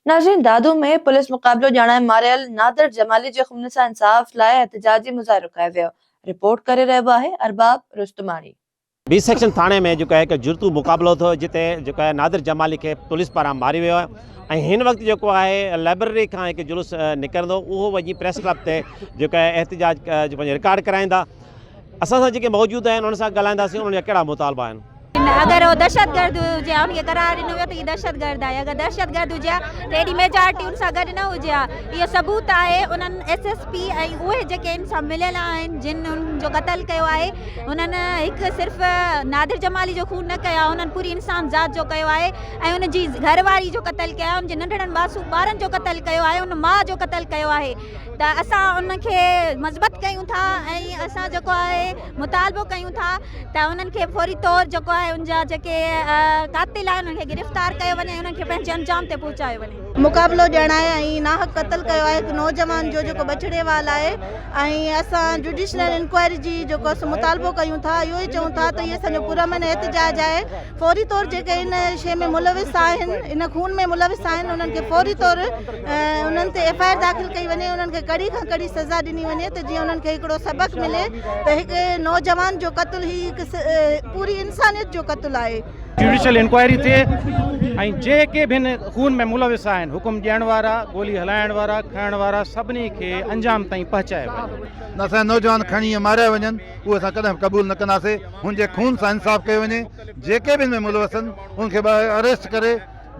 ناظرين دادو ۾ پوليس مقابلو ڄاڻائي ماريل نادر جمالي جي خون سان انصاف لاء احتجاجي مظاهرو ڪيو ويو، رپورٽ ڪري رهيو آهي ارباب رستماڻي. بي سيڪشن ٿاڻي ۾ جيڪو آهي جڙتو مقابلو ٿيو جتي جيڪو آهي نادر جمالي کي پوليس پاران ماريو ويو آهي ۽ هن وقت جيڪو آهي لائبرري کان هڪ جلوس نڪرندو اهو وڃي پريس ڪلب تي جيڪو آهي احتجاج رڪارڊ ڪرائيندا اسان سان جيڪي موجود آهن انهن سان ڳالهائينداسين انهن جا ڪهڙا مطالبا آهن. اگر هو دهشتگرد هجي ها ان کي قرار ڏنو ويو ته هي دهشتگرد آهي اگر دهشتگرد هجي ها ته ايڏي ميجارٽي ان سان گڏ نه هجي ها اهو ثبوت آهي انهن ايس ايس پي ۽ اهي جيڪي ان سان مليل آهن جن ان جو قتل ڪيو آهي انهن هڪ صرف نادر جمالي جو خون نه ڪيو آهي انهن پوري انسان ذات جو ڪيو آهي ۽ ان جي گهر واري جو قتل ڪيو آهي ان جي ننڍڙن معصوم ٻارن جو قتل ڪيو آهي ان ماء جو قتل ڪيو آهي ته اسان ان کي مذمت ڪيون ٿا ۽ اسان جيڪو آهي مطالبو ڪيون ٿا ته انهن کي فوري طور جيڪو آهي ان جا جيڪي قاتل آهن انهن کي گرفتار ڪيو وڃي انهن کي پنهنجي انجام تي پهچايو وڃي. مقابلو ڄڻائي ۽ ناحق قتل ڪيو آهي هڪ نوجوان جو جيڪو بڇڙي وال آهي ۽ اسان جوڊيشنل انڪوائري جي جيڪو مطالبو ڪيون ٿا اهو ئي چئون ٿا ته هي اسان جو پرامن احتجاج آهي. فوري طور جيڪي ان شيء ۾ ملوث آهن ان خون ۾ ملوث آهن انهن کي فوري طور انهن تي ايف آء آر داخل ڪئي وڃي انهن کي ڪڙي کان ڪڙي سزا ڏني وڃي ته جيئن انهن کي هڪڙو سبق ملي ته هڪ نوجوان جو قتل هي هڪ پوري انسانيت جو قتل آهي. جوڊيشل انڪوائري ٿئي ۽ جيڪي به هن خون ۾ ملوث آهن حڪم ڏيڻ وارا گولي هلائڻ وارا کڻڻ وارا سڀني کي انجام تائين پهچايو وڃي. نه اسان جا نوجوان کڻي ائين ماريا وڃن اهو اسان ڪڏهن به قبول نه ڪنداسين. هن جي خون سان انصاف ڪيو وڃي، جيڪي به ان ۾ ملوثن انهن کي ٻاهر اريسٽ ڪري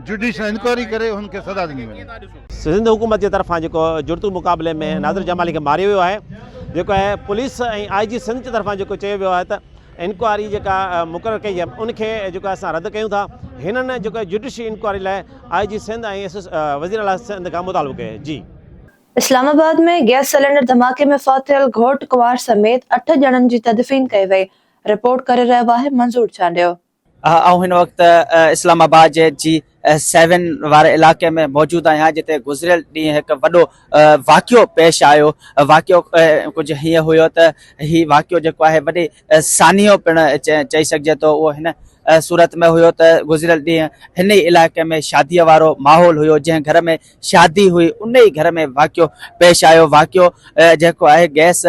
جڊيشل انڪوائري ڪري انهن کي سزا ڏني وڃي. سنڌ حڪومت جي طرفان جيڪو جڙتو مقابلي ۾ ناظر جمالي کي ماريو ويو آهي جيڪو آهي پوليس ۽ آء جي سنڌ جي طرفان جيڪو چيو ويو آهي ته انڪوائري جيڪا مقرر ڪئي آهي ان کي جيڪو آهي اسان رد ڪيون ٿا هنن جيڪو جڊيشل انڪوائري لاء آء جي سنڌ ۽ وزيراعليٰ سنڌ کان مطالبو ڪيو آهي جي اسلام آباد ۾ گئس سلينڊر ڌماڪي ۾ فوت ٿيل گهوٽ ڪنوار سميت اٺ ڄڻن جي تدفين ڪئي وئي، رپورٽ ڪري رهيو آهي منظور چانڊيو. آئون هن وقت اسلام آباد جي جي سيون واري علائقي ۾ موجود آهيان جتي گذريل ڏينهن هڪ وڏو واقعو پيش آيو واقعو ڪجهه هيئن هيو ته هي واقعو جيڪو آهي وڏي سانحو پڻ چئي سگهجي ٿو اهو هن صورت ۾ هيو ته گذريل ڏينهن هن ئي علائقي ۾ شادي وارو ماحول هيو جنهن گهر ۾ شادي هئي ان ئي گهر ۾ واقعو پيش آيو واقعو جيڪو آهي گئس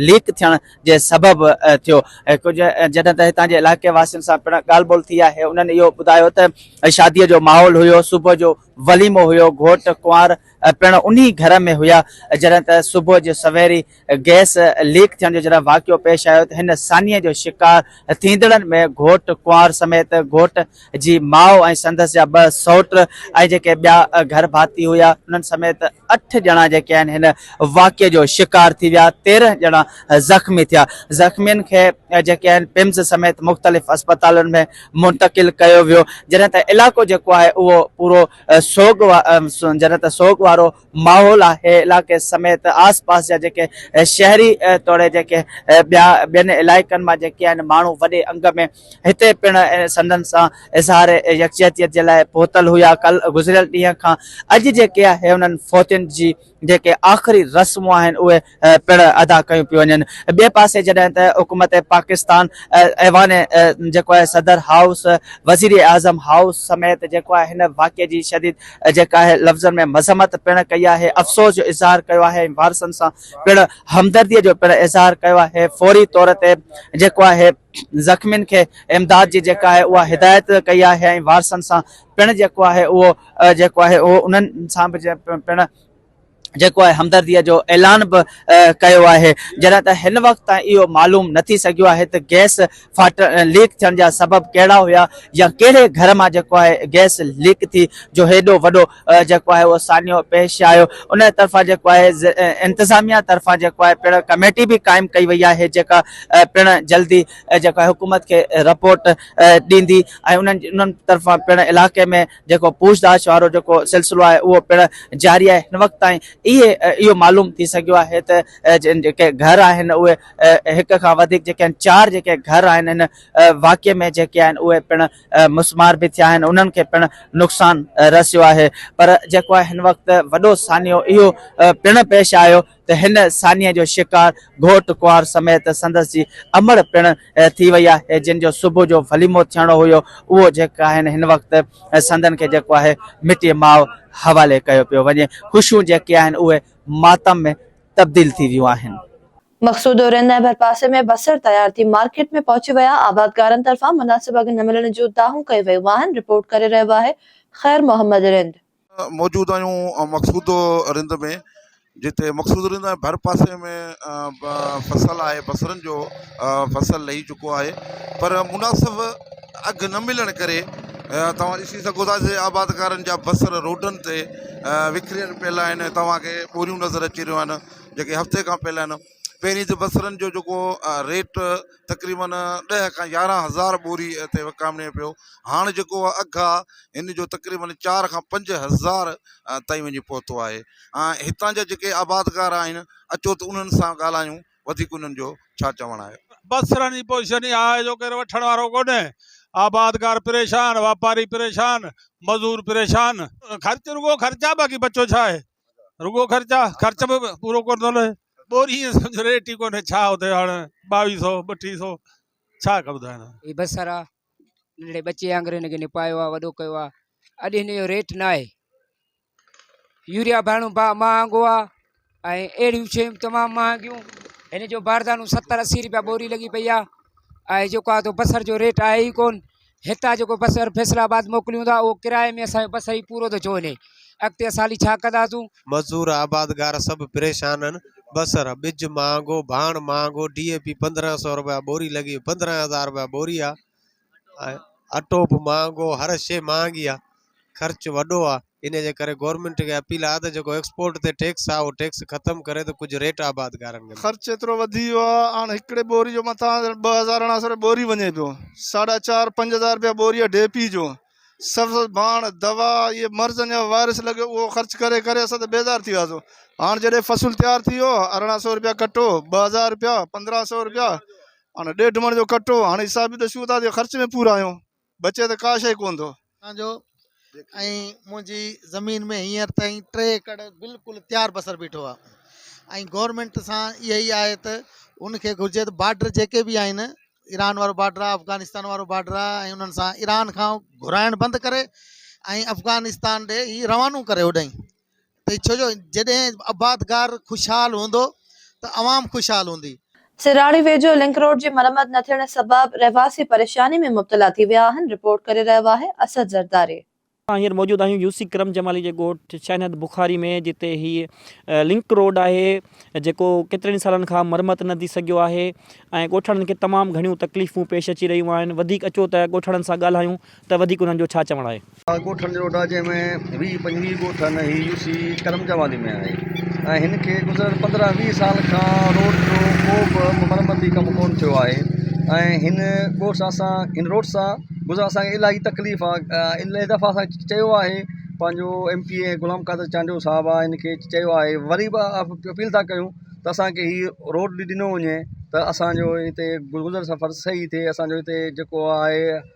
ليڪ ٿيڻ جي سبب ٿيو ڪجهه جڏهن ته هتان جي علائقي واسين سان پڻ ڳالهه ٻولهه ٿي آهي انهن اهو ٻڌايو ته شادي جو ماحول هيو صبح جو وليمو هيو گهوٽ ڪنوار پڻ انهي گهر ۾ هيا جڏهن ته صبح جو سويري گئس ليڪ ٿيڻ جو جڏهن واقعو پيش آيو ته هن سانحي جو شڪار ٿيندڙن ۾ گهوٽ ڪنوار سميت گهوٽ جي ماء ۽ سندس جا ٻه سئوٽ ۽ جيڪي ٻيا گهر ڀاتي هيا انهن سميت اٺ ڄڻا جيڪي آهن هن واقعي جو شڪار ٿي ويا تيرنهن ڄڻا زخمي ٿيا زخمين کي جيڪي آهن پمز سميت مختلف اسپتالن ۾ منتقل ڪيو ويو جڏهن ته علائقو جيڪو آهي اهو پورو سوڳ جڏهن ته سوڳ وارو ماحول آهي علائقي سميت آس پاس جا جيڪي شهري توڙي جيڪي ٻيا ٻين علائقن مان جيڪي آهن ماڻهو وڏي انگ ۾ هتي پڻ سندن سان اظهار يڪجهتيت جي لاء پهتل هيا ڪل گذريل ڏينهن کان اڄ جيڪي آهي انهن فوتين جي جيڪي آخري رسمون آهن اهي پڻ ادا ڪيون پيون وڃن. ٻئي پاسي جڏهن ته حڪومت پاڪستان ايوان جيڪو آهي صدر هائوس، وزيراعظم هائوس سميت جيڪو آهي هن واقعي جي شديد جيڪا آهي لفظن ۾ مذمت پڻ ڪئي آهي، افسوس جو اظهار ڪيو آهي ۽ وارثن سان پڻ همدردي جو پڻ اظهار ڪيو آهي، فوري طور تي جيڪو آهي زخمين کي امداد جي جيڪا آهي اها هدايت ڪئي آهي ۽ وارثن سان پڻ جيڪو آهي اهو جيڪو آهي اهو انهن سان به پڻ جيڪو آهي همدردي جو اعلان به ڪيو آهي جڏهن ته هن وقت تائين اهو معلوم نه ٿي سگهيو آهي ته گئس ڦاٽ ليڪ ٿيڻ جا سبب ڪهڙا هيا يا ڪهڙي گهر مان جيڪو آهي گئس ليڪ ٿي جو هيڏو وڏو جيڪو آهي اهو سانحو پيش آيو ان طرفان جيڪو آهي انتظاميه طرفان جيڪو آهي پڻ ڪميٽي به قائم ڪئي وئي آهي جيڪا پڻ جلدي جيڪو آهي حڪومت کي رپورٽ ڏيندي ۽ انهن انهن طرفان پڻ علائقي ۾ جيڪو پوڇتاڇ وارو جيڪو سلسلو آهي اهو پڻ جاري آهي هن وقت تائين اهي اهو معلوم ٿي سگهيو آهي ته جن جيڪي گهر آهن اهي هڪ کان وڌيڪ جيڪي آهن چار جيڪي گهر آهن هن واقعي ۾ جيڪي آهن اهي پڻ مسمار به ٿيا آهن انهن کي پڻ نقصان رسيو آهي پر جيڪو آهي هن وقت وڏو سانحو اهو پڻ پيش آيو ته هن سانيء جو شڪار گهوٽ ڪنوار سميت سندس جي امڙ پڻ ٿي وئي آهي جن جو صبح جو وليمو ٿيڻو هيو اهو جيڪ آهن هن وقت سندن کي جيڪو آهي مٽي ماء حوالي ڪيو پيو وڃي خوشيون جيڪي آهن اهي ماتم ۾ تبديل ٿي ويون آهن. مقصودو رند ۽ ڀرپاسي ۾ بصر تيار ٿي مارڪيٽ ۾ پهچي ويا آبادگارن طرفان مناسب اگهه نه ملڻ جون دانهون ڪيون ويون آهن رپورٽ ڪري رهيو آهي خير محمد رند. موجود آهيون مقصود رند ۾ جتي مقصود رند ۽ ڀر پاسي ۾ فصل آهي بصرن جو فصل لهي چڪو آهي پر مناسب اگهه نه ملڻ ڪري توهان ڏسي سگهو ٿا جي آبادگارن جا بصر روڊن تي وڪريل پيل آهن توهان کي ٻوريون نظر اچي رهيون آهن جيڪي هفتي کان پيل آهن پهرين ته بصرن جو جيڪو ريٽ تقريبن ڏهه کان يارهن هزار ٻوري هتي وڪامي پيو هاڻ جيڪو اهو اگهه آهي هن جو تقريبن چار کان پنج هزار تائين وڃي پهتو آهي ۽ هتان جا جيڪي آبادگار آهن اچو ته انهن سان ڳالهايون وڌيڪ انهن جو ڇا چوڻ آهي. بصرن جي پوزيشن اها آهي جو ڪير وٺڻ وارو ڪونهي، آبادگار پريشان، واپاري پريشان، مزور پريشان. خرچ رڳو خرچ آهي باقي بچو ڇا آهي؟ رڳو خرچ آ خرچ به پورو ڪو نه لهي ٻوري ائين سمجھو ريٽ ئي ڪونهي ڇا اتي هاڻي ٻاويهه سو ٻٽيهه سو ڇا ڪا ٻڌايان هي بصر آ ننڍڙي ٻچي وانگر هن کي نپايو آ وڏو ڪيو آ اڄ هن جو ريٽ نه آهي يوريا ڀاڻو با مهانگو آ ۽ اهڙيون شيون تمام مهانگيون هن جو باردانو ستر اسي روپيا ٻوري لڳي پئي آ ۽ جيڪو آ تو بصر جو ريٽ آهي ئي ڪون هتان جيڪو بس اهر فيصل آباد موڪليون ٿا اهو ڪرائي ۾ اسان جو بس هي پورو ٿو ڇو وڃي اڳتي اسان هلي ڇا ڪنداسون. مزور آبادگار سڀ پريشان آهن بصر ٻج مهانگو ڀاڻ مهانگو ڊي اي پي پندرهن سئو رپيا ٻوري لڳي پندرهن هزار رپيا ٻوري آهي ۽ اٽو به مهانگو هر شي مهانگي آهي خرچ وڏو آ انهي جي ڪري گورنمينٽ کي اپيل آ ته جيڪو ايڪسپورٽ تي ٽيڪس آ اهو ٽيڪس ختم ڪري ته ڪجهه ريٽ آبادگارن کي خرچ ايترو وڌي ويو آ هاڻ هڪڙي ٻوري جو مٿان ڄڻ ٻه هزار اڻا سو رپيا ٻوري وڃي پيو ساڍا چار پنج هزار رپيا ٻوري آ ڊي پي جو سبز ڀاڻ دوا اهي مرضن جا وائرس لڳيو اهو خرچ ڪري ڪري اسان ته بيزار ٿي وياسون هاڻ جڏهن فصل تيار ٿي ويو اڻا سو رپيا ڪٽو ٻه هزار رپيا پندرهن سو رپيا هاڻ ڏيڍ مڻ جو ڪٽو هاڻ حساب به ڏسيون ٿا ته خرچ ۾ پورا آهيون بچي ته ڪا شيء ڪونه ٿو. تان جو ۽ منهنجي زمين ۾ هينئر تائين ٽي ايڪڙ بلڪل تيار بصر بيٺو آ ۽ گورنمينٽ سان اها ئي آهي ته ان کي گهرجي ته بارڊر جيڪي به آهن ايران وارو بارڊر آ افغانستان وارو بارڊر آ ۽ انهن سان ايران کان گهرائڻ بند ڪري ۽ افغانستان ڏي هي روانو ڪري هوڏانهين ته ڇو جو جڏهن آبادگار خوشحال هوندو ته عوام خوشحال هوندي. سراڙي ويجهو لنڪ روڊ جي مرمت نه ٿيڻ سبب رهواسي پريشاني ۾ مبتلا ٿي ويا آهن، رپورٽ ڪري رهيو آهي اسد زرداري. اسان هينئر موجود آهيون يوسي ڪرم جمالي جي ڳوٺ شينهد بخاري ۾ جتي هي لنڪ روڊ آهي جيڪو ڪيترن ئي سالن کان مرمت نه ٿي سگهيو آهي ۽ ڳوٺاڻن کي تمام گهڻيون تڪليفون پيش اچي رهيون آهن وڌيڪ اچو ته ڳوٺاڻن سان ڳالهايون ته وڌيڪ انهن جو ڇا چوڻ آهي. اها ڳوٺن جي روڊ آهي جنهن ۾ ويهه پنجويهه ڳوٺن هي يو سي ڪرم جوالي ۾ آهي ۽ هن کي گذريل پندرهن ويهه سال کان روڊ جو ڪو به مرمتي ڪم ڪونه ٿيو آهي ۽ هن ڳوٺ سان اسان هن روڊ سان گذرڻ اسان کي الاهي تڪليف آ الائي دفعا اسان کي چيو آهي پنهنجو M P A Ghulam Qadir Chandio Sahib آ هن کي چيو آهي وري به اپيل ٿا ڪيون ته اسان کي هي روڊ ڏنو وڃي ته اسان جو هتي گذر سفر صحيح ٿئي اسان جو هتي جيڪو آهي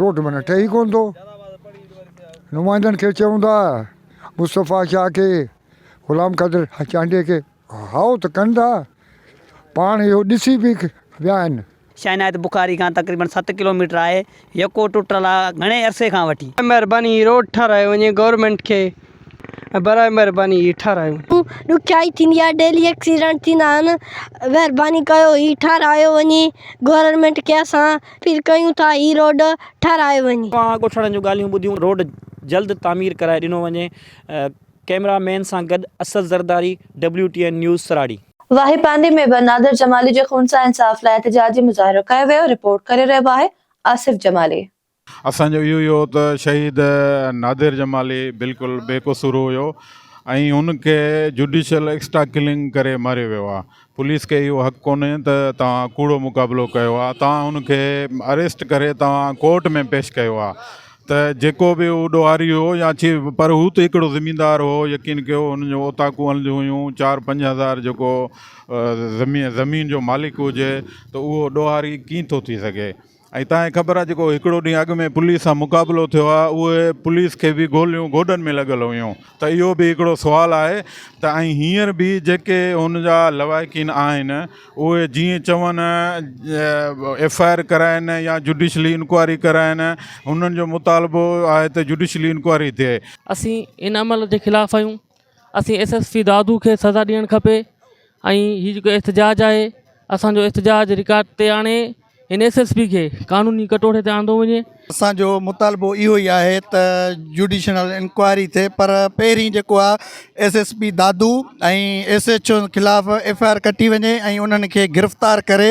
روٽ منا ٺهي ڪونه ٿو. نمائندن کي چئون ٿا مصطفيٰ شاهه کي غلام قادر چانڊيي کي هائو ته ڪن ٿا پاڻ اهو ڏسي به ويا آهن. شاهه عنايت بخاري کان تقريبن ست ڪلوميٽر آهي. يڪو ٽٽل آهي گهڻي عرصي کان وٺي. برائي مهرباني هي روڊ ٺارايو وڃي گورنمينٽ کي برائي مهرباني هي ٺارايو. ڏکيائي ٿيندي آهي ڊيلي ايڪسيڊنٽ ٿيندا آهن مهرباني ڪيو هي ٺارايو وڃي گورنمينٽ کي اسان پير ڪيون ٿا هي روڊ ٺاهرايو وڃي. اوهان ڳوٺاڻن جون ڳالهيون ٻڌيون روڊ جلد تعمير ڪرائي ڏنو وڃي ڪئميرا مين سان گڏ Asad Zardari W T N news Sarari. Wahi پانڊي ۾ به نادر جمالي جي خون سان انصاف لاء احتجاجي مظاهرو ڪيو ويو، رپورٽ ڪري رهيو آهي آصف جمالي. اسان جو اهو ئي هو ته شهيد نادر جمالي بلڪل بي قصور هيو ۽ هن کي جوڊيشل ايڪسٽرا ڪلنگ ڪري ماريو ويو آهي پوليس کي اهو حق ڪونهي ته توهان ڪوڙو مقابلو ڪيو آهي توهان هن کي اريسٽ ڪري توهان ڪورٽ ۾ پيش ڪيو آهي ته جيڪو به هو ڏوهاري هو يا پر هو ته هڪڙو زميندار هو يقين ڪيو هن جون اوطاقون هلنديون هيون چار پنج هزار جيڪو زمين جو مالڪ هجي ته اهو ڏوهاري ڪيئن ٿو ٿي سگهي ۽ توهان کي خبر آهي جيڪو هڪڙو ڏينهن اڳ ۾ پوليس سان مقابلو ٿيو آهي اهي پوليس کي به گوليون گوڏن ۾ لڳل هيون ته اهو به هڪڙو سوال آهي ته ۽ هينئر به جيڪي هن جا لواحقين آهن اهي جيئن چون ايف آء آر ڪرائين يا جڊيشلي انڪوائري ڪرائين هنن جو مطالبو آهي ته جڊيشلي انڪوائري ٿئي. اسين ان عمل جي خلاف آهيون اسين ايس ايس پي دادو کي سزا ڏيڻ کپي ۽ هي جيڪو احتجاج آهي اسان جو احتجاج رڪارڊ تي آڻي هن ايس ايس پي کي قانوني ڪٽوڙي تي آندو وڃي. اسان جو مطالبو اهو ئي آهي ته جوڊيشنل انڪوائري ٿئي پر پهرين جيڪو آهي S S P Dadu ۽ S H O خلاف ايف آء آر ڪٽي وڃي ۽ انهن کي گرفتار ڪري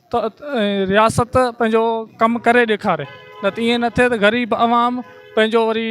ته رياست پنهنجو ڪم ڪري ڏيکاري نه ته ائين نه ٿئي ته غريب عوام پنهنجو وري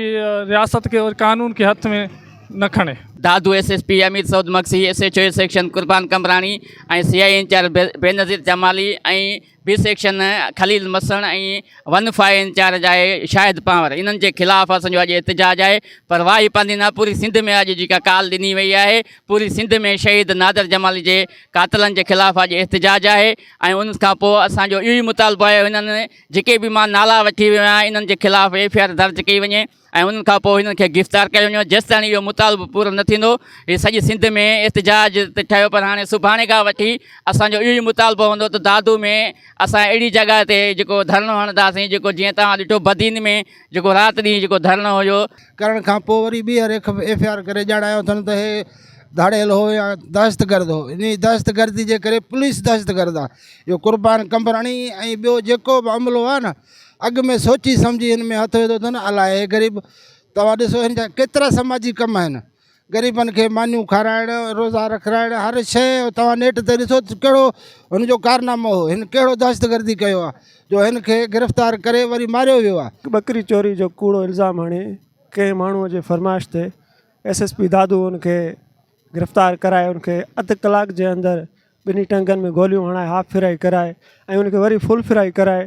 رياست کي قانون کي هٿ ۾ نه کڻي. Dadu S S P Amir Saud Magsi, S H O A section Qurban Qambrani ۽ C I A incharge Benazir Jamali ۽ B section Khalil Masan ۽ one five incharge آهي شاهد پنهور انهن جي خلاف اسان جو اڄ احتجاج آهي پر واهي پاندي نه پوري سنڌ ۾ اڄ جيڪا ڪال ڏني وئي آهي پوري سنڌ ۾ شهيد نادر جمالي جي قاتلن جي خلاف اڄ احتجاج آهي ۽ ان کان پوء اسان جو اهو ئي مطالبو آهي هنن جيڪي به مان نالا وٺي ويو آهيان انهن جي خلاف ايف آء آر درج ڪئي وڃي ۽ انهن کان پوء هنن کي گرفتار ڪيو وڃي جيستائين اهو مطالبو پورو نه ٿيندو هي سڄي سنڌ ۾ احتجاج تي ٺهيو پر هاڻي سڀاڻي کان وٺي اسان جو اهو ئي مطالبو هوندو ته دادو ۾ اسان اهڙي جڳهه تي جيڪو ڌرڻو هڻنداسين جيڪو جيئن توهان ڏٺو بدين ۾ جيڪو رات ڏينهن جيڪو ڌرڻو هيو ڪرڻ کان پوء وري ٻيهر ايف آء آر ڪري ڄاڻايو اٿن ته هي ڌاڙيل هو يا دهشتگرد هو انهي دهشتگردي جي ڪري پوليس دهشتگرد آ اهو قربان قمبراڻي ۽ ٻيو جيڪو به عملو آ نه اڳ ۾ سوچي سمجهي هن ۾ هٿ وڌو اٿن الاهي غريب توهان ڏسو هن جا ڪيترا سماجي ڪم آهن غريبن کي مانيون کارائڻ روزا رکرائڻ هر شيء توهان نيٽ تي ڏسو ته ڪهڙو هن جو ڪارنامو هو هن ڪهڙو دهشتگردي ڪيو آهي جو هن کي گرفتار ڪري وري ماريو ويو آهي ٻڪري چوري جو ڪوڙو الزام هڻي ڪنهن ماڻهو جي فرمائش تي ايس ايس پي دادو ان کي گرفتار ڪرائي ان کي اڌ ڪلاڪ جي اندر ٻنهي ٽنگن ۾ گوليون هڻائي هاف فرائي ڪرائي ۽ ان کي وري فل فرائي ڪرائي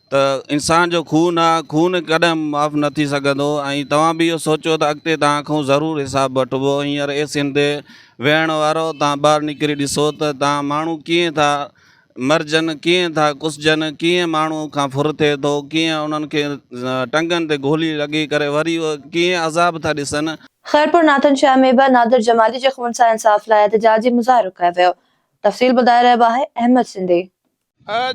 ته انسان جو خون آ خون ڪڏهن معاف نه ٿي سگهندو ۽ توهان به اهو سوچو ته اڳتي توهان کان ضرور حساب وٺبو هينئر اي سين تي ويهڻ وارو توهان ٻاهر نڪري ڏسو ته توهان ماڻهو ڪيئن ٿا مرجن ڪيئن ٿا ڪسجن ڪيئن ماڻهو کان ڦر ٿئي ٿو ڪيئن انهن کي ٽنگن تي گولي لڳي ڪري وري اهي ڪيئن عذاب ٿا ڏسن. خيرپور ناٿن شاهه ۾ به نادر جمالي جي خون سان انصاف لاء احتجاجي مظاهرو ڪيو ويو تفصيل ٻڌائي رهيو آهي احمد سنڌي.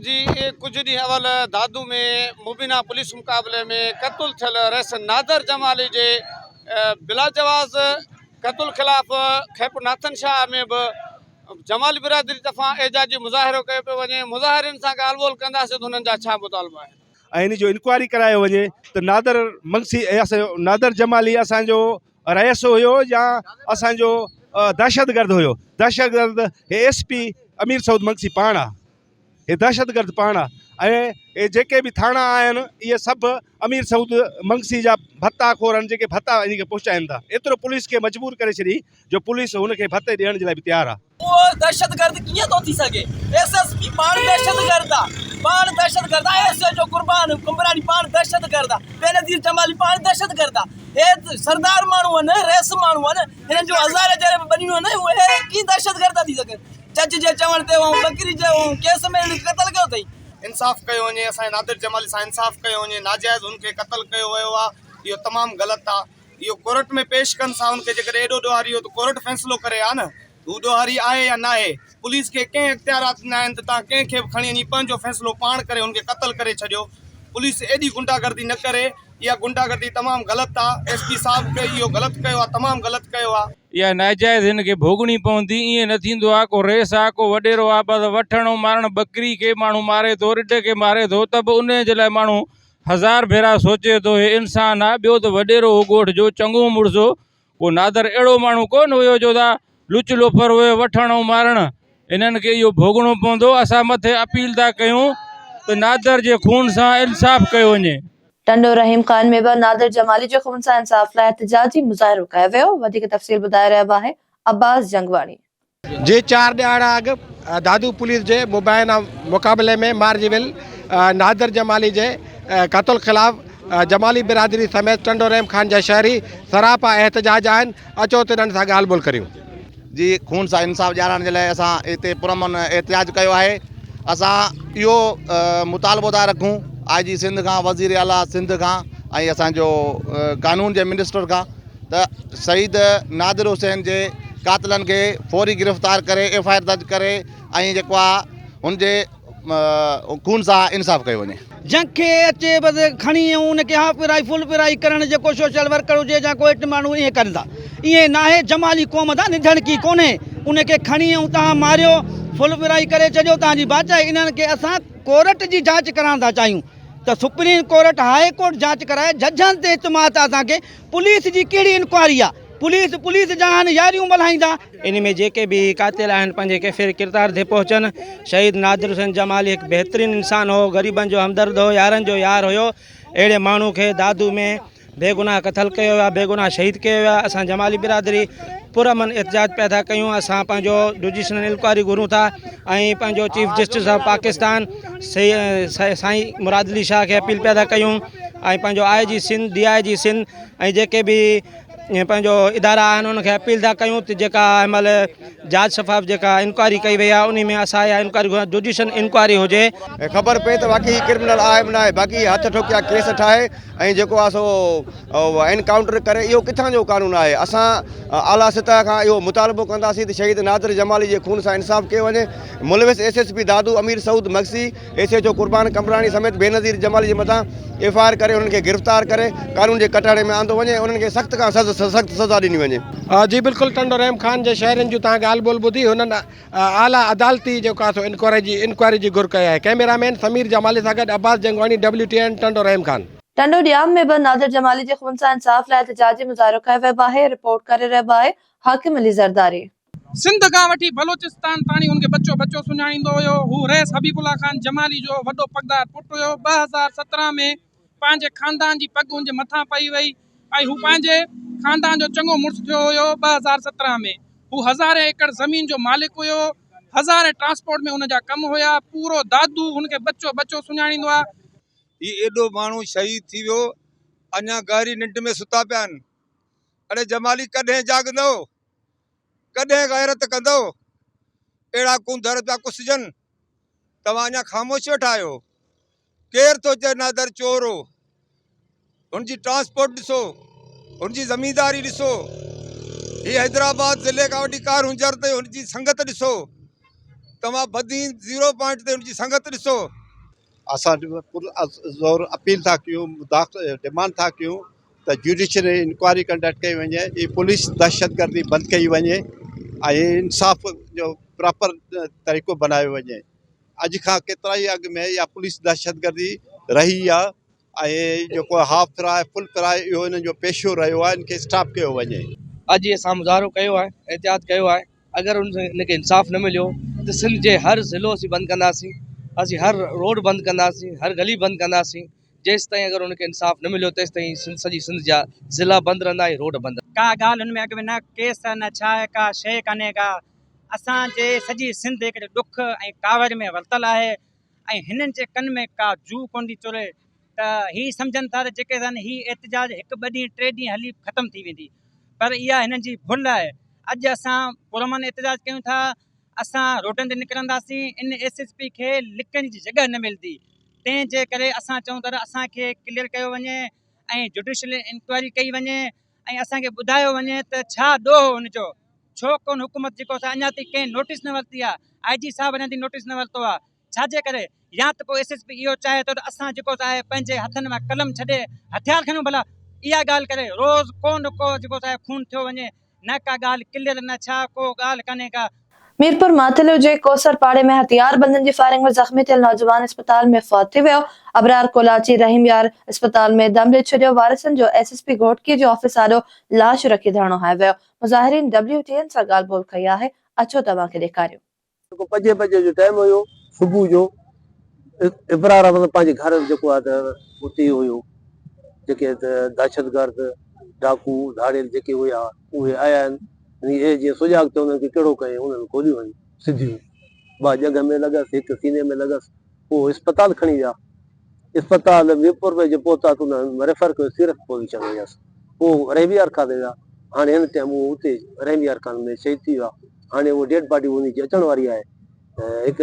جي ڪجهه ڏينهن اول دادو ۾ مبينا پوليس مقابلي ۾ قتل ٿيل رئيس نادر جمالي جي بلاجواز قتل خلاف خيپور ناٿن شاهه ۾ به جمالي برادري طرفان احجاجي مظاهرو ڪيو پيو وڃي مظاهرين سان ڳالهه ٻولهه ڪنداسين ته هنن جا ڇا مطالبا آهن ۽ هن جو انڪوائري ڪرايو وڃي ته نادر منگسي نادر جمالي اسان جو رئيس هيو يا اسان جو دهشتگرد هيو دهشتگرد هي ايس پي امير سعود منگسي پاڻ آ هي دهشتگرد پاڻ آ ۽ هي جيڪي به ٿاڻا آهن اهي سڀ امير سعود منگسي جا ڀتا خور آهن جيڪي ڀتا هن کي پهچائن ٿا ايترو پوليس کي مجبور ڪري ڇڏي جو پوليس هن کي ڀتي ڏيڻ جي لاء به تيار آ اهو دهشتگرد ڪيئن ٿو ٿي سگهي ايس ايس پي پاڻ دهشتگرد آ پاڻ دهشتگرد آ S H O Qurban Qambrani پاڻ دهشتگرد آ بينظير جمالي پاڻ دهشتگرد آ هي سردار ماڻهو آهن رئيس ماڻهو آهن هنن جو هزار جهڙي بنيون آهن اهي ڪيئن دهشتگرد ٿا ٿي سگهن جج جي چوڻ تي هو ٻڪري جي هو ڪيس ۾ هن قتل ڪيو اٿئي انصاف ڪيو وڃي اسان جي نادر جمالي سان انصاف ڪيو وڃي ناجائز هن کي قتل ڪيو ويو آ اهو تمام غلط آ. اهو ڪورٽ ۾ پيش ڪن سا ان کي جيڪڏهن ايڏو ڏوهاري هو ته ڪورٽ فيصلو ڪري ها نه هو ڏوهاري آهي يا ناهي پوليس کي ڪنهن اختيارات ڏنا آهن ته تان ڪنهن کي به کڻي وڃي پنهنجو فيصلو پاڻ ڪري هن کي قتل ڪري ڇڏيو پوليس ايڏي غنڊا گردي نه ڪري اها غنڊا گردي تمام غلط آهي ايس پي صاحب کي اهو غلط ڪيو آهي تمام غلط ڪيو آهي اها ناجائز هن کي ڀوڳڻي پوندي ائين نه ٿيندو آهي ڪو رئيس آهي ڪو وڏيرو آهي بس وٺڻ ۽ مارڻ ٻڪري کي ماڻهو ماري ٿو رڍ کي ماري ٿو ته به ان جي لاء ماڻهو هزار ڀيرا سوچي ٿو هي انسان آ ٻيو ته وڏيرو هو ڳوٺ جو چڱو مڙس هو پوء نادر اهڙو ماڻهو ڪونه هيو جو دا لچ لوفر هوئي وٺڻ ۽ مارڻ هنن کي اهو ڀوڳڻو پوندو اسان مٿي اپيل ٿا ڪيون ته نادر جي خون سان انصاف ڪيو وڃي. ٽنڊو رحيم خان ۾ به نادر جمالي جي خون سان انصاف لاء احتجاجي مظاهرو ڪيو ويو وڌيڪ تفصيل ٻڌائي رهيو آهي عباس جنگواڻي. جي چار ڏهاڙا اڳ دادو پوليس جي مبينا مقابلي ۾ مارجي ويل نادر جمالي جي قتل خلاف جمالي برادري سميت ٽنڊو رحيم خان جا شهري سراپا احتجاج آهن اچو ته انهن سان ڳالهه ٻولهه ڪريون. جي خون سان انصاف ڏيارائڻ جي لاء اسان هتي پرامن احتجاج ڪيو آهي اسان اهو مطالبو ٿا رکون آء جي سنڌ کان وزير اعليٰ سنڌ کان ۽ اسان جو قانون جي منسٽر کان ته شهيد نادر حسين جي قاتلن کي فوري گرفتار ڪري ايف آء آر درج ڪري ۽ جيڪو آ هن جي خون سان انصاف ڪيو وڃي. جنهن کي اچي بس کڻي ۽ ان کي هاف پرائي فل پرائي ڪرڻ جيڪو سوشل ورڪر هجي جا ڪو اهٽ ماڻهو ائين ڪن ٿا ائين ناهي جمالي قوم دا نڌڻ ڪي ڪونهي ان کي کڻي ۽ تهان ماريو فل پرائي ڪري ڇڏيو تهان جي بادشاهي انهن کي اسان ڪورٽ جي جاچ ڪرائڻ ٿا چاهيون ته سپريم ڪورٽ هاء ڪورٽ جاچ ڪرائي ججن تي اعتماد ته اسان کي پوليس جي ڪهڙي انڪوائري آ پوليس پوليس جا آهن ياريون ملهائيندا. ان ۾ جيڪي به قاتل آهن پنهنجي ڪيفر ڪردار تي پهچن شهيد نادر حسين جمالي هڪ بهترين انسان هو غريبن جو همدرد هو يارن جو يار هيو اهڙي ماڻهو کي دادو ۾ بيگناهه قتل ڪيو ويو آ بيگناهه شهيد ڪيو ويو آ اسان جمالي برادري پر امن احتجاج پيا ٿا ڪيون اسان پنهنجو جوڊيشنل انڪوائري گهرون ٿا ۽ پنهنجو چيف جسٽس آف پاڪستان سائين مراد علي شاهه کي اپيل پيا ٿا ڪيون ۽ پنهنجو آء G Sindh D I G Sindh ۽ جيڪي به پنهنجو ادارا آهن انهن کي اپيل ٿا ڪيون ته جيڪا هن مهل جاچ شفاف جيڪا انڪوائري ڪئي وئي آهي ان ۾ اسان اها انڪوائري گهران جوڊيشل انڪوائري هجي ۽ خبر پئي ته واقعي هي ڪرمنل آهي به نه آهي باقي هٿ ٺوڪيا ڪيس ٺاهي ۽ جيڪو آهي سو انڪائونٽر ڪري اهو ڪٿان جو قانون آهي اسان اعليٰ سطح کان اهو مطالبو ڪنداسين ته شهيد نادر جمالي جي خون سان انصاف ڪيو وڃي ملوث S S P Dadu Amir Saud Magsi S H O Qurban Qambrani سميت بينظير جمالي جي مٿان ايف آء آر ڪري انهن کي گرفتار ڪري قانون جي ڪٽهڙي ۾ آندو وڃي ۽ انهن کي سخت کان سخت سزا ڏني وڃي. جي بلڪل ٽنڊو رحيم خان جي شاعرين جون توهان ڳالهه ٻولهه ٻڌي هنن اعليٰ عدالتي جيڪو آهي سو انڪوائري جي گهر ڪئي آهي ڪئميرا مين سمير جمالي سان گڏ Abbas Jangwani W T N Tando Rahim Khan. Tando Jam ۾ به ناظر جمالي جي خون سان انصاف لاء احتجاجي مظاهرو ڪيو ويو آهي رپورٽ ڪري رهيو آهي حاڪم علي زرداري. سنڌ کان وٺي بلوچستان تاڻي هن کي ٻچو ٻچو سڃاڻيندو هيو. هو رئيس حبيب الله خان جمالي جو وڏو پڳدار پٽ هيو. ٻه هزار سترهن ۾ پنهنجي خاندان جي پڳ هن جي مٿان پئي وئي ۽ هو پنهنجي خاندان جو چڱو مڙس ٿيو هيو. ٻه هزار سترهن ۾ هو هزارين ايڪڙ زمين جو مالڪ هيو. هزارين ٽرانسپورٽ ۾ هن جا ڪم هيا. پورو دادو هن کي ٻچو ٻچو سڃاڻيندو آهي. هي ايڏو ماڻهو شهيد ٿي ويو. اڃا گهري ننڊ ۾ ستا پيا آهن. اڙي جمالي ڪڏهن جاڳندؤ؟ ڪڏهن غيرت ڪندؤ؟ اهڙا ڪونڌر پيا ڪسجن، توهان اڃا خاموش ويٺا آهيو. ڪير ٿو چئي نادر چور هو؟ هن جي ٽرانسپورٽ ڏسو، هن جي زمينداري ڏسو، هي حيدرآباد ضلعي کان وٺي ڪارونجهر تائين هن جي سنگت ڏسو، توهان بدين زيرو پوائنٽ تي هن جي سنگت ڏسو. اسان پرزور اپيل ٿا ڪيون ڊمانڊ ٿا ڪيون ته جوڊيشل انڪوائري ڪنڊڪٽ ڪئي وڃي ۽ پوليس دهشتگردي بند ڪئي وڃي ۽ انصاف جو پراپر طريقو بنايو وڃي اڄ کان ڪيترا ئي اڳ ۾ اها پوليس دهشتگردي رهي آهي اهي جيڪو هاف فراء فل فراء اهو انهن جو پيشو رهيو آهي ان کي اسٽاپ ڪيو وڃي. اڄ اسان مظاهرو ڪيو آهي احتجاج ڪيو آهي اگر ان کي انصاف نه مليو ته سنڌ جي هر ضلعو اسين بند ڪنداسين اسين هر روڊ بند ڪنداسين هر گلي بند ڪنداسين جيستائين اگر ان کي انصاف نه مليو تيستائين سڄي سنڌ جا ضلعا بند رهندا ۽ روڊ بند ڪا ڳالهه ان ۾ اڳ ۾ نه ڪيس نه ڇا آهي ڪا شيء ڪانهي ڪا اسان جي سڄي سنڌ هڪڙي ڏک ۽ ڪاوڙ ۾ ورتل آهي ۽ هنن جي ڪن ۾ ڪا جوء ڪونه ٿي چري ته هي سمجهن ٿا ته جيڪي سندن هي احتجاج هڪ ٻه ڏينهن ٽي ڏينهن هلي ختم ٿي ويندي پر اها هنن جي ڀل آهي اڄ اسان پرامن احتجاج ڪيون ٿا اسان روڊن تي نڪرنداسين ان ايس ايس پي کي لڪڻ جي جڳهه نه ملندي تنهن جي ڪري اسان چئون ٿا ته اسان کي ڪليئر ڪيو وڃي ۽ جوڊيشل انڪوائري ڪئي وڃي ۽ اسان کي ٻڌايو وڃي ته ڇا ڏوهه هو ان جو؟ ڇو ڪون حڪومت جيڪو اسان اڃا تائين ڪنهن نوٽيس نه ورتي آهي، آء جي صاحب اڃا تائين نوٽيس نه ورتو آهي ڇا جي ڪري؟ يا ته پوء ايس ايس پي اهو چاهي ٿو ته اسان جيڪو سا آهي پنهنجي هٿن مان قلم ڇڏي هٿيار کڻيون ڀلا اها ڳالهه ڪري روز ڪو نه ڪو جيڪو سا آهي خون ٿيو وڃي نه ڪا ڳالهه ڪليئر نه ڇا ڪو ڳالهه ڪانهي ڪا ميرپور ماٿيلو جي ڪوثر پاڙي ۾ هٿيار بندن جي فائرنگ ۾ زخمي ٿيل نوجوان اسپتال ۾ فوت ٿي ويو، ابرار ڪولاچي رحيم يار اسپتال ۾ دم ڏئي ڇڏيو، وارثن جو ايس ايس پي گهوٽڪي جي آفيس آڏو لاش رکي ڌرڻو هنيو ويو، مظاهرين ڊبليو ٽي اين سان ڳالهه ٻولهه ڪئي آهي، اچو ته اوهان کي ڏيکاريون. جيڪو پنجين بجي جو ٽائيم هيو صبح جو ابرار احمد پنهنجي گهر جيڪو آهي ته اتي هيو جيڪي دهشتگرد ڊاڪو ڌاڙيل جيڪي هيا اهي آيا آهن. ائين اهي جيئن سجاڳ چوندن ڪي ڪهڙو ڪئين انهن کوليون هن سڌيون ٻه ڄنگهه ۾ لڳس هڪ سيني ۾ لڳس پوء اسپتال کڻي ويا اسپتال ميرپور ۾ جي پهتا ته انهن ريفر ڪيو سيرت پوزيشن هيس پوء رحيمي ارکا تي ويا هاڻي هن ٽيم اهو اتي رحيمي ارکان ۾ شهيد ٿي ويو آهي هاڻي اهو ڊيڊ باڊي انهي جي اچڻ واري آهي هڪ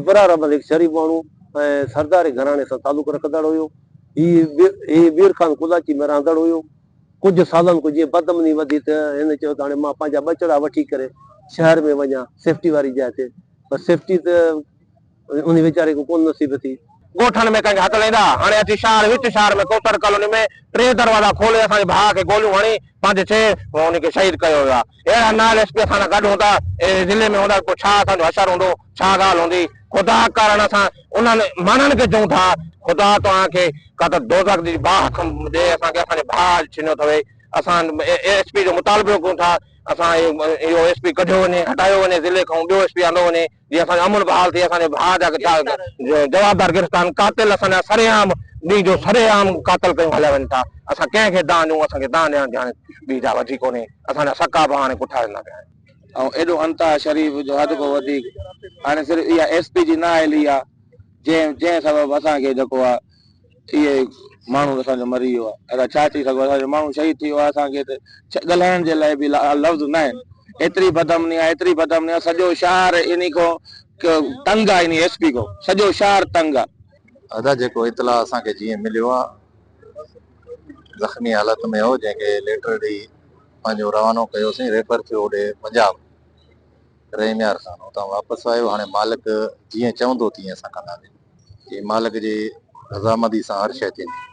ابرار عمل هڪ شريف ماڻهو ۽ سرداري گهراڻي سان تعلق رکندڙ هيو هي بير خان قلعچي ۾ رهندڙ هيو ڪجهه سالن کان جيئن بدامني وڌي ته هن چيو ته هاڻي مان پنهنجا ٻچڙا وٺي ڪري شهر ۾ وڃان سيفٽي واري جاء تي پر سيفٽي ته انهي ويچاري کي ڪونه نصيب ٿي. ڳوٺن ۾ ڪنهن کي هٿ لهندا هاڻي اچي شهر وچ شهر ۾ ڪوسٽر ڪالوني ۾ ٽي دروازا کولي اسان جي ڀاء کي گوليون هڻي پنهنجي ڇي انهي کي شهيد ڪيو ويو آهي. اهڙا نال ايس پي اسان سان گڏ هوندا اهي ضلعي ۾ هوندا ته پوء ڇا اسان جو حشر هوندو ڇا ڳالهه هوندي خدا ڪارڻ اسان انهن ماڻهن کي چئون ٿا خدا توهان کي ڪا ته دوزخ جي باهه کن ڏي اسان کي اسان جي ڀاء اڄ ڇنيو اٿوئي اسان ايس پي جو مطالبو ڪيون ٿا اسان اهو ايس پي ڪڍيو وڃي هٽايو وڃي ضلعي کان ٻيو ايس پي آندو وڃي جي اسان جو امن بحال ٿئي اسان جي ڀاء جا جوابدار گرفتان قاتل اسان جا سري عام ڏينهن جو سري عام قاتل ڪيون هليا وڃن ٿا اسان ڪنهن کي دانهن ڏيون اسان کي دانهن ڏيڻ جي هاڻي ٻي جا وڌي ڪونهي اسان جا سڪا به هاڻي پٺا ويندا پيا آهن ۽ ايڏو انتها شريف جو حد کان وڌيڪ هاڻي صرف اها ايس پي جي نااهلي آهي جنهن جنهن سبب اسان کي جيڪو آهي اهي ماڻهو اسان جو مري ويو آهي ادا ڇا چئي سگهبو اسان جو ماڻهو شهيد ٿي ويو آهي اسان کي ته ڳالهائڻ جي لاء به لفظ نه آهن ايتري بدامني آهي ايتري بدامني آهي سڄو شهر اني کو تنگ آهي اني ايس پي کو سڄو شهر تنگ آهي ادا جيڪو اطلاع اسان کي جيئن مليو آهي زخمي حالت ۾ هو جنهن کي ليٽر ڏئي پنهنجو روانو ڪيوسين ريفر ٿيو هوڏي پنجاب رحميار خان اتان واپس آيو، هاڻي مالڪ جيئن چوندو تيئن اسان ڪنداسين. چي مالڪ جي رضامندي سان هر شيء ٿيندي.